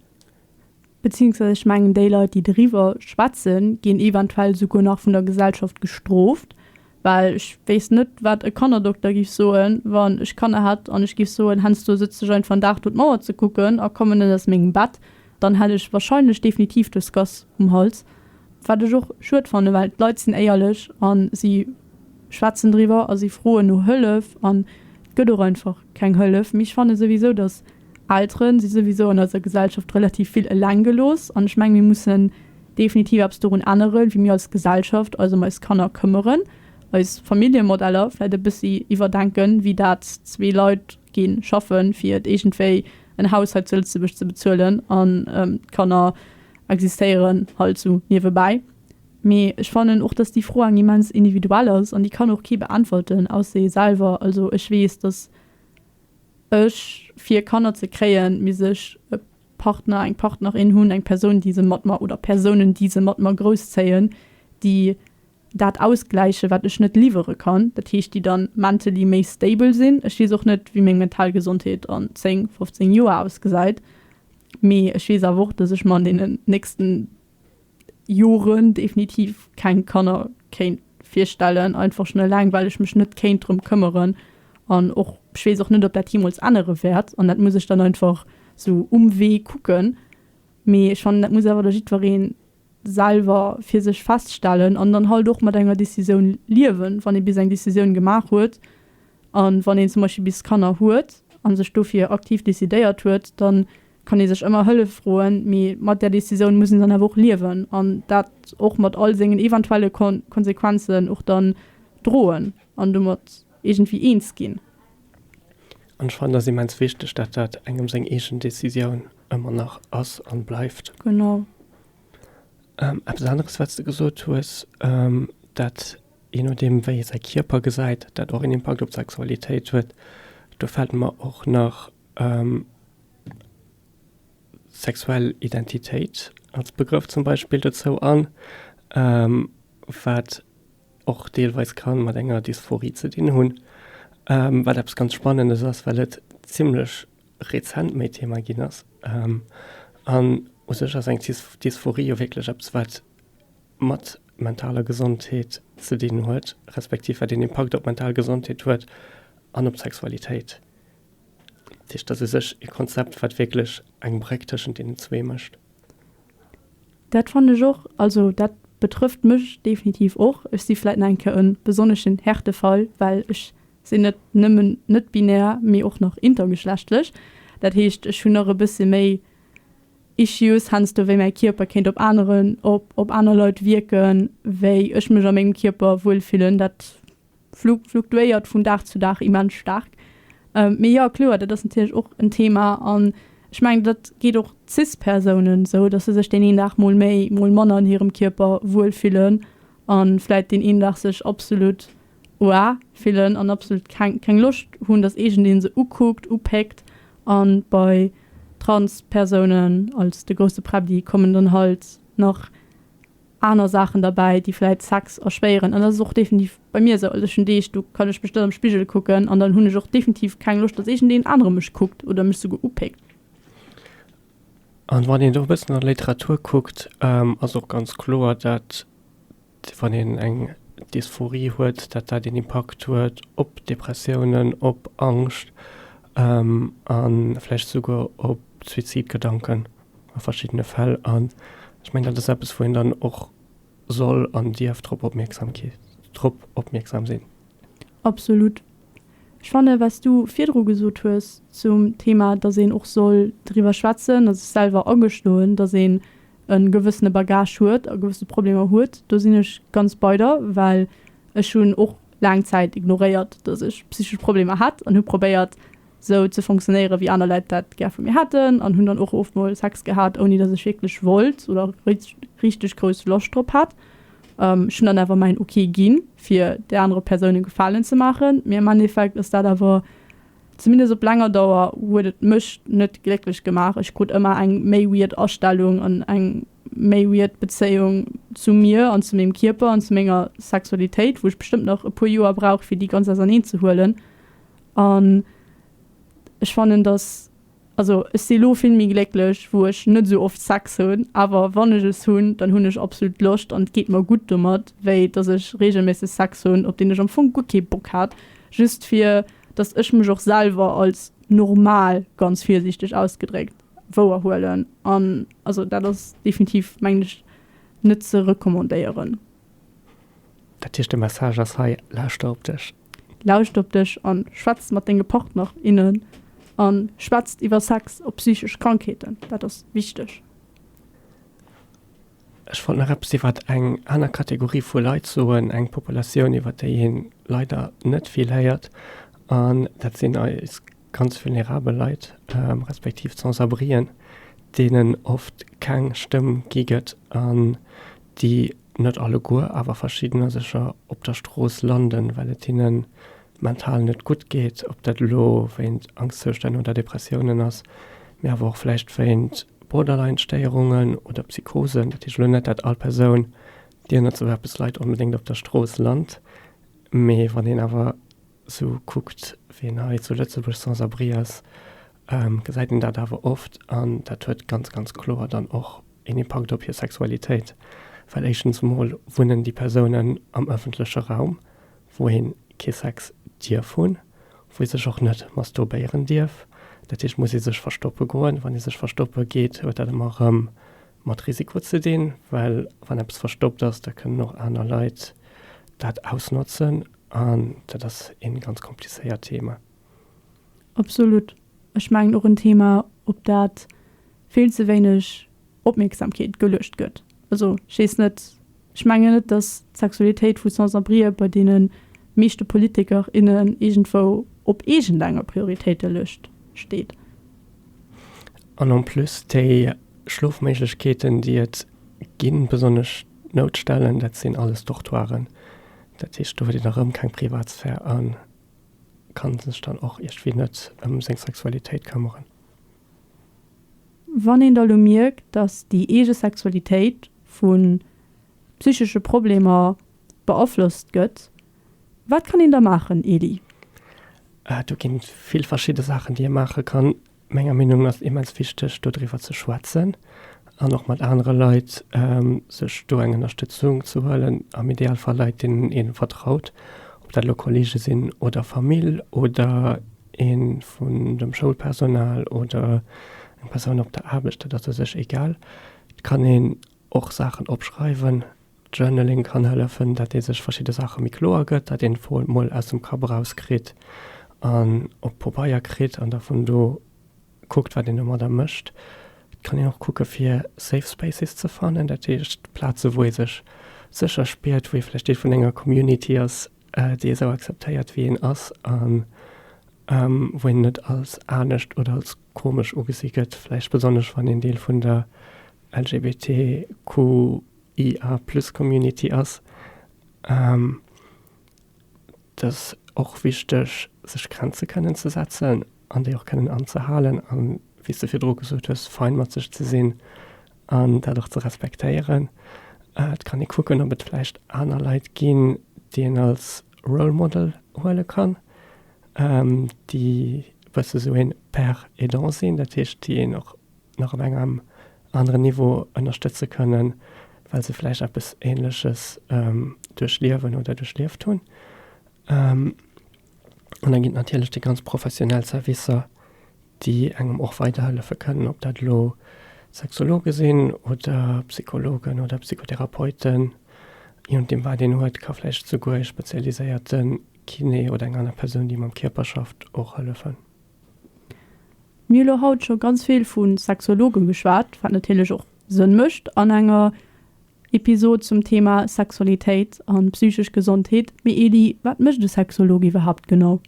Beziéungsweis ech mengen déi Leit déi doriwwer schwätzen ginn eventuell esouguer nach vun der Gesellschaft gestrooft, well ech wéisst net wat e Kannerdokter giff soen wann ech Kanner hätt an ech giff soen, hensdo sëtz dech einfach en Dag do d'Mauer ze kucken a komme net aus mengem Bett, dann hätt ech wahrscheinlech definitiv dës Gass um Hals. Wat ech och schued fannen, well d'Leit sinn éierlech a si schwätzen driwwer a si froen no Hëllef an et gëtt och einfach keng Hëllef. Mee ech fanne souwisou, datt. Elteren si souwisou an eiser Gesellschaft relativ vill eleng gelooss an ech mengen mir mussen definitiv eppes dorun änneren wéi mir als Gesellschaft eis ëm eis Kanner këmmeren, eis Familljemodeller vläit e bëssi iwwerdenken, wéi dat zwee Leit gi schaffen fir et iergendwéi en Haus hei zu Lëtzebuerg ze bezuelen an d'Kanner existéieren halt sou niewebäi. Mee ech fannen och dass déi Fro eng immens individuell ass an déi kann och kee beäntwerten ausse ee selwer. Also ech weess dass. Ech, fir Kanner ze kréien, misst ech e Partner, eng Partnerin hunn, eng Persoun, déi se mat mer, oder Persounen, déi se mat mer grousszéien, déi dat ausgläichen, wat ech net liwwere kann. Dat heescht, déi dann mentally méi stable sinn. Ech weess och net, wéi meng mental Gesondheet an 10, 15 Joer ausgesäit, mee ech weess awer och, dass ech mer an deenen nächsten Joren definitiv keng Kanner kéint virstellen, einfach schon eleng well ech mech net kéint drëm këmmeren an och ech weess och net ob dat jeemools ännere wäert an dat muss ech dann einfach sou um Wee kucken. Mee ech fannen dat muss awer da jiddweree selwer fir sech feststellen an dann halt och mat enger Decisioun liewen, wann ee bis eng Decisioun gemaach huet an wann een zum Beispill bis Kanner huet an sech dofir aktiv decidéiert huet dann, kann ee sech ëmmer Hëllef froen, mee mat där Decisioun muss een dann awer och liewen an dat och mat all sengen eventuelle Konsequenzen och dann droen an domat iergendwéi eens ginn. An ech fannen, et ass immens wichteg, datt dat engem seng eegen Decisioun ëmmer nach ass an bleift. Genau. Eppes aneres, wat s de gesot hues, dat je nodeem, wéi ee säi Kierper gesäit, dat och en Impakt op d'Sexualitéit huet, do fält mer och nach Sexuell Identitéit als Begrëff zum Beispill dozou an, wat och deelweis ka mat enger Dysphorie ze dinn hunn, wat eppes ganz Spannendes ass, well et zimlech rezent méi Thema ginn ass. An u sech ass eng Dysphorie jo wierklech eppes, wat mat mentaler Gesondheet ze dinn huet, respektiv wat een Impakt op d'mental Gesondheet huet an op d'Sexualitéit. Dat heescht, dat ass u sech e Konzept, wat wierklech eng Bréck tëschent deenen zwee mécht. Dat fannen ech och. Also dat betrëfft mech definitiv och. Ech si vläit nach eng Kéier e besonneschen Härtefall, well ech sinn net nëmmen net-binär, mee och nach intergeschlechtlech. Dat heescht, ech hunn nach e bësse méi Issues heiansdo, wéi mäi Kierper kéint op aneren, op aner Leit wierken, wéi ech mech a mengem Kierper wuel fillen. Dat. fluktuéiert vun Dag zu Dag immens staark. Mee jo, kloer, dat ass natierlech och en Thema. An ech mengen, dat geet och Cis-Persounen esou, datt se sech deen een Dag mol méi, mol manner an hirem Kierper wuel fillen a vläicht deen een Dag sech absolutt oua fillen an absolutt keng, keng Loscht hunn, datt iergendeen se ukuckt, upéckt. A bei Trans-Persounen, als de grousse Präbdi, kommen dann halt nach aner Saachen derbäi, déi vläit Sex erschwéieren. An dat ass och definitiv bei mir esou. Also ech hunn Deeg, do kann ech mech net am Spigel kucken an dann hunn ech och definitiv keng Loscht, datt iergendeen anere mech kuckt oder mech souguer upéckt. An wann een do e bëssen an d'Literatur kuckt, ass och ganz kloer, datt wann een eng Dysphorie huet, datt dat een Impakt huet op Depressiounen, op Angscht an vläicht souguer op Suizidgedanken. a verschiddene Fäll. An ech mengen, dat ass eppes, wou een dann och soll an dierf drop opmierksam sinn. Absolut. Ech fanne wat s du virdru gesot hues zum Thema, datt een och soll driwwer schwätzen, datt ech selwer agestoen, datt een e gewëssene Bagage huet a gewësse Problemer huet, do sinn ech ganz bei der. Well ech hunn och laang Zäit ignoréiert, datt ech psychesch Problemer hätt an hu probéiert, sou ze funktionéieren, wéi aner Leit dat gär vu mir hätten an hunn dann och oft mol Sex gehat, ouni dass ech wierklech wollt oder richteg grouss Loscht drop hat. Ech hunn dann awer mäin ok ginn, fir där anerer Persoun e Gefalen ze maachen, mee am Endeffekt ass dat awer, zumindest op laanger Dauer, huet et mech net glécklech gemaach. Ech krut ëmmer eng méi weird Astellung an eng méi weird Bezéiung zu mir an zu mengem Kierper an zu menger Sexualitéit, wou ech bestëmmt nach e puer Joer brauch, fir déi ganz auserneen ze huelen. An ech fannen, datt, also ech si lo vill méi glécklech, wou ech net esou oft Sex hunn, awer wann ech es hunn, dann hunn ech absolut Loscht an et geet mer gutt domat, wéi datt ech reegelméisseg Sex hunn, op deen ech am Fong guer kee Bock hat, just fir datt ech mech och selwer als normal, ganz virsiichteg ausgedréckt, wouerhuelen. An also dat ass definitiv, mengen ech, net ze recommandéieren. Dat heescht, de Message ass hei, Lauschter op dech! Lauscht op dech an schwätzt mat denge Partner, innen an schwätzt iwwer Sex op psychesch Krankheeten, dat ass wichteg. Ech wollt nach eppes iwwert eng aner Kategorie vu Leit soen, eng Populatioun iwwert déi een leider net vill héiert an dat sinn eis ganz vulnerabel Leit, respektiv d'Sans-abrien, deenen oft keng Stëmm gi gëtt an déi net alleguer, awer verschiddener sécher op der Strooss landen, well et hinne mental net gutt geet, ob dat elo wéint Angstzoustänn oder Depressiounen ass, mee awer och vläicht wéint Borderline-Stéierungen oder Psychosen. Dat heescht elo net, dat all Persoun, déi ënner souverpes leit, onbedéngt op der Strooss lant, mee wann een awer Sou kuckt ween hei zu Lëtzebuerg sans abri ass, gesäit een dat awer oft an dat huet ganz, ganz kloer dann och een Impakt op hir Sexualitéit, well éischtens emol wunnen déi Persounen am ëffentleche Raum, wou een kee Sex dierf hunn, wou ee sech och net masturbéieren dierf. Dat heescht, muss ee sech verstoppe goen. Wann ee sech verstoppe geet, huet dat ëmmer erëm mat Risiko ze dinn, well wann eppes verstoppt ass, da kënnen och aner Leit dat ausnotzen an dat ass ee ganz komplizéiert Thema. Absolut. Ech mengen och en Thema, op dat vill ze wéineg Opmierksamkeet geluecht gëtt. Also ech weess net, Ech mengen net, datt d'Sexualitéit vu Sans-abrien bei deene meeschte Politiker, innen iergendwou op iergendenger Prioritéitelëscht steet. An en plus, déi Schlofméiglechkeeten, déi et ginn, besonnesch d'Noutstellen, dat sinn alles Dortoiren. Dat heescht, do huet een erëm keng Privatsphär a ka sech dann och iergendwéi net ëm seng Sexualitéit këmmeren. Wann een da lo mierkt, datt déi eege Sexualitéit vu psychesche Problemer beaflosst gëtt, wat kann een da maachen, Elie? Do ginn et vill verschidde Saachen, déi ee maache kann. Menger Meenung no ass et immens wichteg, do driwwer ze schwätzen an och mat anere Leit, sech do eng Ënnerstëtzung ze huelen, am Idealfall Leit, deenen ee vertraut, ob dat elo Kollege sinn oder Famill oder. ee vun dem Schoulpersonal oder eng Persoun op der Aarbecht, dat ass u sech egal. Et kann een och Saachen opschreiwen. Journaling kann hëllefen, datt ee sech verschidde Saache méi kloer gëtt, datt een d'Froen mol aus dem Kapp erauskritt an op Pabeier kritt an da vun do kuckt, wat een domadder mécht. Et kann een och kucke fir safe spaces ze fannen, dat heescht Plaze wou ee sech sécher spiert, wou ee vläicht Deel vun enger Community ass, dee esou akzeptéiert wéi een ass an wou een net als anescht oder als komesch ugesi gëtt, vläicht besonnesch wann een Deel vun der LGBTQIA plus Community ass. Et ass och wichteg sech Grenze kënnen ze setzen an déi och kënnen anzehalen an wéi s de virdru gesot hues fein mat sech ze sinn an dat och ze respektéieren. Et kann ee kucken, ob et vläicht aner Leit ginn, déi een als Role Model huele kann, déi e bësse sou ee Père aidant sinn, dat heescht, déi een och nach op engem aneren Niveau ënnerstëtze kënnen, well se vläicht eppes Änleches duerchliewen oder duerchlieft hunn. An da ginn et natierlech déi ganz professionell Servicer, déi engem och weiderhëllefe kënnen, ob dat elo Sexologe sinn oder Psychologen oder Psychotherapeuten, je nodeem wat een huet, ka vläicht esouguer e spezialiséierte Kiné oder eng aner Persoun, déi mam Kierper schafft, och hëllefen. Mir hu elo haut scho ganz vill vu Sexologen geschwat, wat natierlech och Sënn mécht an enger Episod zum Thema Sexualitéit an psychesch Gesondheet. Mee Eli, wat mécht e Sexolog iwwerhaapt genau?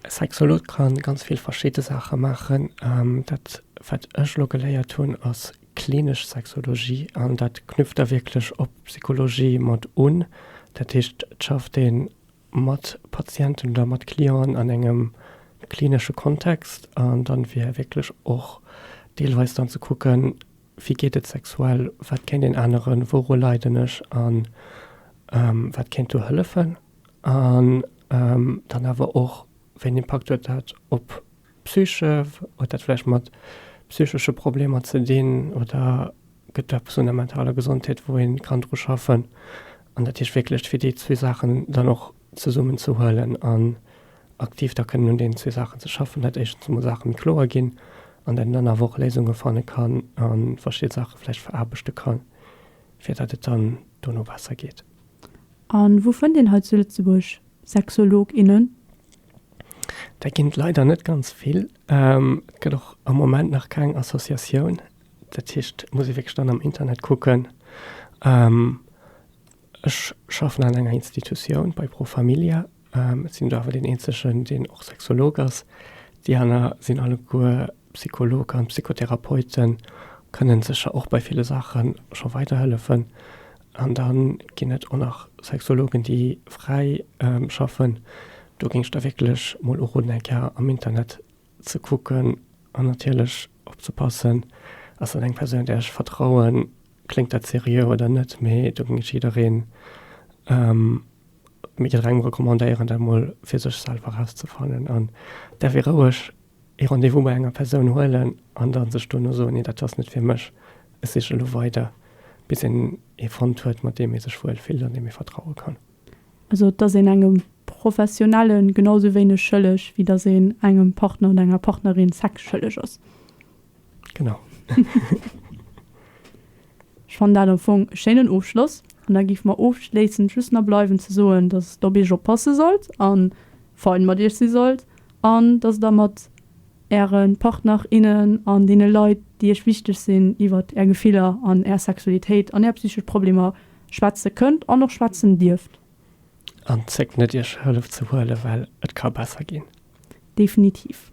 Sexolot kann ganz vill verschidde Saache maachen. Dat wat ech elo geléiert hunn ass klinesch Sexologie an dat knüpft da wierklech op Psychologie mat un. Dat heescht et schafft ee mat Patienten oder mat Clienten an engem klinesche Kontext an dann fir wierklech och deelweis dann ze kucken, wéi geet et sexuell, wat kéint een aneren, wouru leiden ech an wat kéint do hëllefen. An dann awer och, wéi en Impakt huet dat op d'Psyche? Huet dat vläicht mat psychesche Problemer ze dinn oder gëtt et eppes un der mentaler Gesondheet, wou ee kann dru schaffen? An dat heescht wierklech, fir déi zwee Saachen dann och zesummen ze huelen an aktiv da kënnen un deenen zwee Saachen ze schaffen, dat éischtens emol Saache méi kloer ginn an dat een dann awer och Léisunge fanne kann a verschidde Saache vläicht veraarbechte kann, fir dat et dann dono besser geet. A wou fënnt een hei zu Lëtzebuerg Sexolog, innen? Dat ginn et leider net ganz vill. Et gëtt och am Moment nach keng Associatioun. Dat heescht, et muss ee wierklech dann am Internet kucken. Ech schaffen an enger Institutioun, bei Pro Familia. Ech sinn do awer deen Eenzegen, deen och Sexolog ass. Déi aner sinn alleguer Psycholog an Psychotherapeuten, kënnen sécher och bei ville Saache scho weiderhëllefen. An da ginn et och nach Sexologen, déi fräi schaffen. Do géing ech da wierklech mol uroden, eng Kéier am Internet ze kucken an natierlech opzepassen, Ass dat eng Persoun, där ech vertrauen? Kléngt dat seriö oder net? Mee do géing ech jiddereen. Mee gëtt rengem recommandéieren, dat mol fir sech selwer erauszefannen. An da wier roueg ee Rendez-vous bei enger Persoun huelen an da sech duerno soen, nee, dat ass net fir mech, ech siche elo weider, bis een ee fonnt huet, mat deem ee sech wuel fillt an deem ee vertraue kann. Also et ass een engem Professionelle genausou wéineg schëlleg, wéi datt een engem Partner oder enger Partnerin Sex schëlleg ass. Genau. Ech fannen dat am Fong e schéinen Ofschloss. An da géife mer ofschléissend just nach bleiwen ze soen, datt Der op Iech oppasse sollt a fein mat Iech si sollt an datt Der mat Äre Partner, innen an deene Leit, déi Iech wichteg sinn, iwwert Är Gefiller an Är Sexualitéit an Är psychesch Problemer schwätze kënnt an och schwätzen dierft. An zéckt net, Iech Hëllef ze huelen, well et ka besser ginn. Definitiv.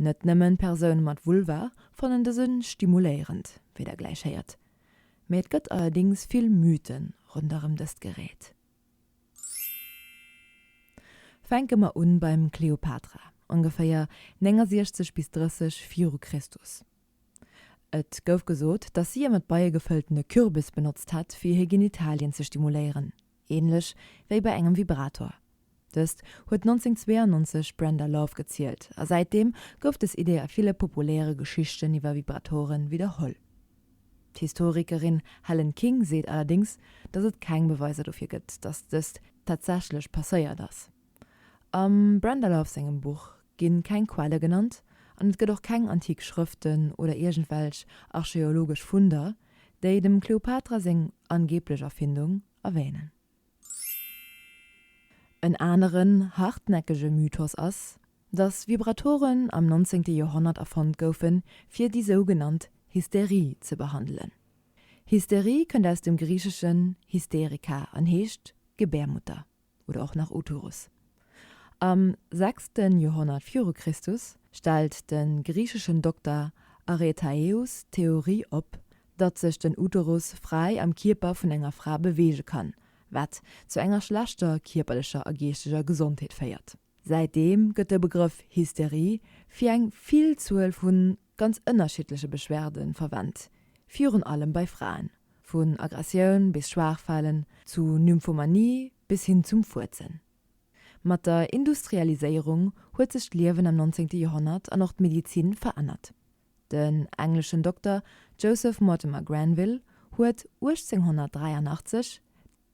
Net nëmmen Persoune mat Vulva fannen dëse stimuléierend, wéi der gläich héiert, mee et gëtt allerdéngs vill Mythen ronderëm dëst Gerät. Fänke mer un beim Kleopatra, ongeféier 69 bis 30 viru Christus. Et gouf gesot, dass si e mat Beie gefëltene Kürbis benotzt hätt, fir hir Genitalien ze stimuléieren. Ähnlech wéi bei engem Vibrator. Dëst huet 1992 d'Brenda Love gezielt a säitdeem gouf des Idee a ville populäre Geschichten iwwer Vibratoren widderholl. D'Historikerin Helen King seet allerdéngs, datt et keng Beweiser dofir gëtt, datt dëst tatsächlech passéiert ass. Am Brenda Love sengem Buch ginn keng Quelle genannt an et gëtt och keng antik Schrëften oder iergendwelch archeologesch Funder, déi dem Kleopatra seng angeeblech Erfindung erwänen. En aneren hartnäckege Mythos ass, dass Vibratoren am 19. Joerhonnert erfonnt goufen, fir déi sougenannt Hysterie ze behandelen. Hysterie kënnt aus dem Griicheschen hysterica an heescht Gebärmutter. oder och nach Otures. Am sechste Joerhonnert viru Christus stellt de griicheschen Dokter Aretaeus d'Theorie op, datt sech den Uterus fräi am Kierper vun enger Fra beweege kann, wat zu enger schlechter kierperlecher a geeschteger Gesondheet féiert. Säitdeem gëtt de Begrëff Hysterie fir eng Villzuel vu ganz ënnerschiddleche Beschwerde verwent, virun allem bei Fraen, vun Aggressioun bis Schwaachfalen, zu Nymphomanie bis hin zum Fuerzen. Mat der Industrialiséierung huet sech d'Liewen am 19. Joerhonnert an och d'Medizin verännert. Den engleschen Dokter Joseph Mortimer Granville huet 1883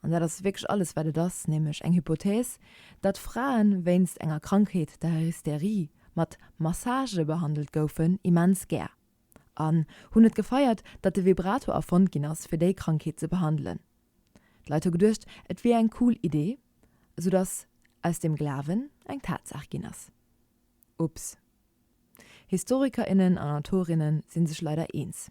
an dat ass wierklech alles wat et ass, nämlech eng Hypothèse, datt Fraen wéinst enger Krankheet, der Hystérie, mat Massage behandelt goufen, immens gär, an hunn et gefeiert, datt de Vibrato erfonnt ginn ass fir déi Krankheet ze behandelen. D'Leit hu geduecht et wier eng cool Idee, esou datt aus dem Glawen eng Tatsaach ginn ass. Ups. Historiker innen an Autorinnen sinn sech leider eens.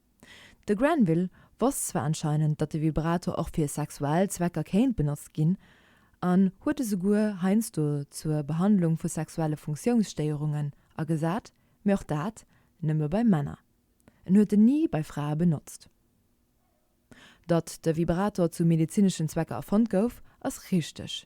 De Granville wosst zwar anscheinend, datt de Vibrator och fir sexuell Zwecker kéint benotzt ginn an huet e souguer heiansdo zur Behandlung vu sexuelle Funktiounsstéierungen agesat, mee och dat nëmme bei Männer. En huet en ni bei Frae benotzt. Datt de Vibrator zu medezineschen Zwecker erfonnt gouf, ass richteg,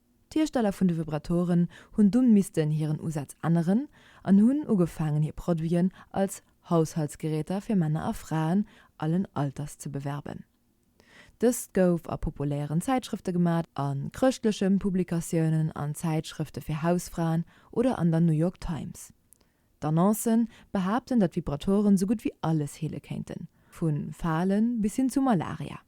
D'Hiersteller vun de Vibratoren hunn dunn missten hiren Usaz änneren an hunn ugefaangen hir Produiten als Haushaltsgeräter fir Männer a Fraen allen Alters ze bewerben. Dëst gouf a populären Zäitschrëfte gemat, a chrëschtlechen Publikatiounen, an Zäitschrëfte fir Hausfraen oder an der New York Times. D'Annoncen behaapten, datt Vibratoren sou gutt wéi alles heele kéinten, vu Falen bis hin zu Malaria.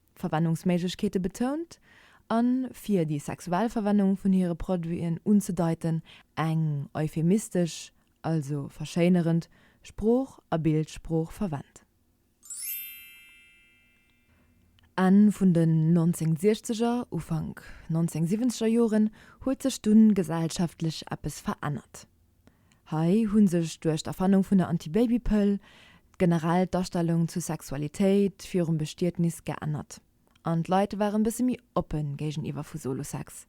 Verwennungsméiglechkeete betount a fir déi sexuell Verwennung vun hire Produiten unzedeiten, eng euphemistesch, also verschéinerend, Sprooch a Bildsprooch verwennt. Enn vun den 1960er, Ufank 1970er Joren huet sech dunn gesellschaftlech eppes verännert. Hei hu sech duerch d'Erfannung vun der Antibabypëll generell d'Astellung zur Sexualitéit virum Bestietnis geännert an d'Leit ware bësse méi oppe géigeniwwer vu Solo-Sex.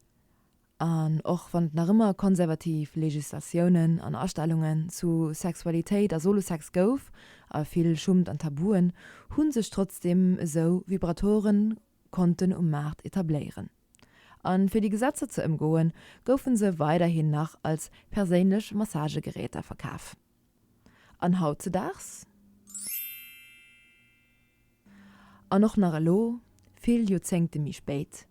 An och wann et nach ëmmer konservativ Legislatiounen an Astellungen zu Sexualitéit a Solo-Sex gouf a vill Schummt an Tabuen, hu sech trotzdeem esou Vibratoren konnten um Maart etabléieren. A fir déi Gesetzer ze ëmgoen, goufen se weiderhin nach als perséinlech Massagegeräter verkaf. An hautzedaags? An och nach elo, vill Joerzéngte méi spéit?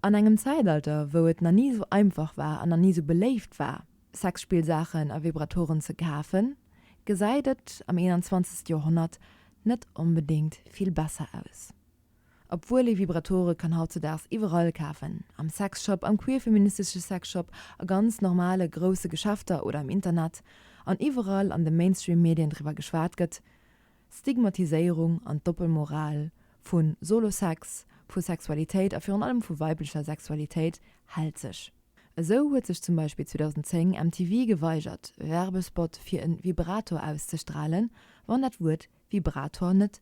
An engem Zäitalter, wou et nach ni esou einfach war an nach ni esou beléift war, Sexspillsaachen a Vibratoren ze kafen, gesäit et am 21. Joerhonnert net onbedéngt vill besser aus. Obwuel ee Vibratore kann hautzedaags iwwerall kafen, am Sexshop, am queer-feministesche Sexshop, a ganz normale grousse Geschäfter oder am Internet, an iwwerall an de Mainstream-Medien driwwer geschwat gëtt, d'Stigmatiséierung an d'Doppelmoral vu Solo-Sex, vu Sexualitéit a virun allem vu weiblecher Sexualitéit hält sech. Esou huet sech zum Beispill 2010 MTV geweigert, Werbespot fir e Vibrator auszestralen, wann dat Wuert Vibrator net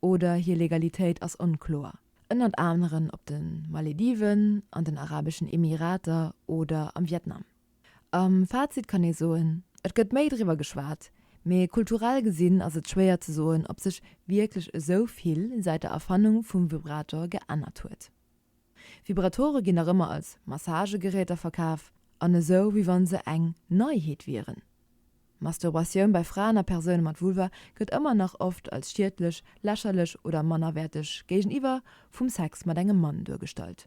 oder hir Legalitéit ass onkloer, ënnert aneren op de Malediven, an den Arabeschen Emirater oder am Vietnam. Am Fazit kann ee soen, et gëtt méi driwwer geschwat, mee kulturell gesinn ass et schwéier ze soen, ob sech wierklech esou vill säit der Erfannung vum Vibrator geännert huet. Vibratore ginn nach ëmmer als Massagegeräter verkaf an esou wéi wann se eng Neiheet wieren. Masturbatioun bei Fraen a Persoune mat Vulva gëtt ëmmer nach oft als schiedlech, lächerlech oder mannerwäerteg géigeniwwer vum Sex mat engem Mann duergestallt.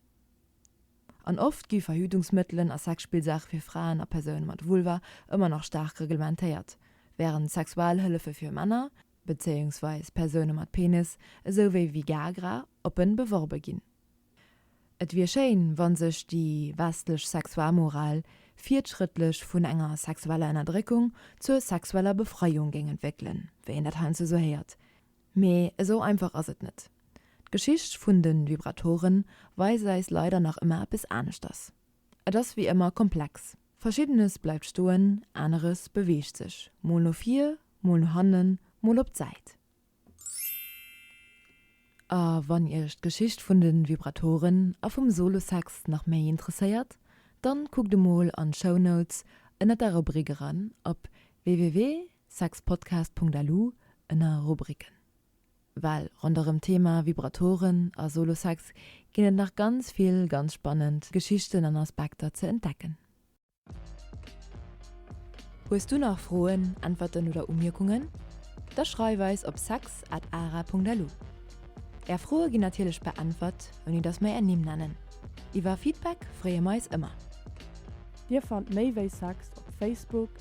An oft gi Verhütungsmëttelen a Sexspillsaache fir Fraen a Persoune mat Vulva ëmmer nach staark reglementéiert, wärend Sexualhëllefe fir Männer, bezéiungsweis Persoune mat Penis, esou wéi Vigagra, oppen beworbe ginn. Et wier schéin, wann sech déi westlech Sexualmoral virtschrëttlech vun enger sexueller Ënnerdréckung zur sexueller Befreiung géing entwéckelen, wéi een dat heiansdo esou héiert. Mee esou einfach ass et net. D'Geschicht vun de Vibratoren weist eis leider nach ëmmer eppes aneschters. Et ass wéi ëmmer komplex. Verschiddenes bleift stoen, aneres beweegt sech, mol no vir, mol no hannen, mol op d'Säit. A wann Iech d'Geschicht vun de Vibratoren a vum Solosax nach méi interesséiert, dann kuckt emol an d'Show Notes ënner der Rubrik eran op www.saxpodcast.lu ënner Rubriken. Well ronderëm d'Thema Vibratoren a Solo-Sex ginn et nach ganz vill ganz spannend Geschichten an Aspekter ze entdecken. Hues du nach Froen, Äntwerten oder Umierkungen? Da schreif eis op sex at ara.lu. Är Froe ginn natierlech beäntwert, ouni datt mer är Nimm nennen. Iwwer Feedback freeë mer eis ëmmer. Dir fannt méi wéi Sex op Facebook,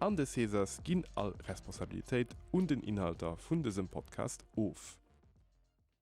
An de Césars ginn all Responsabilitéit un den Inhalter vun dësem Podcast of.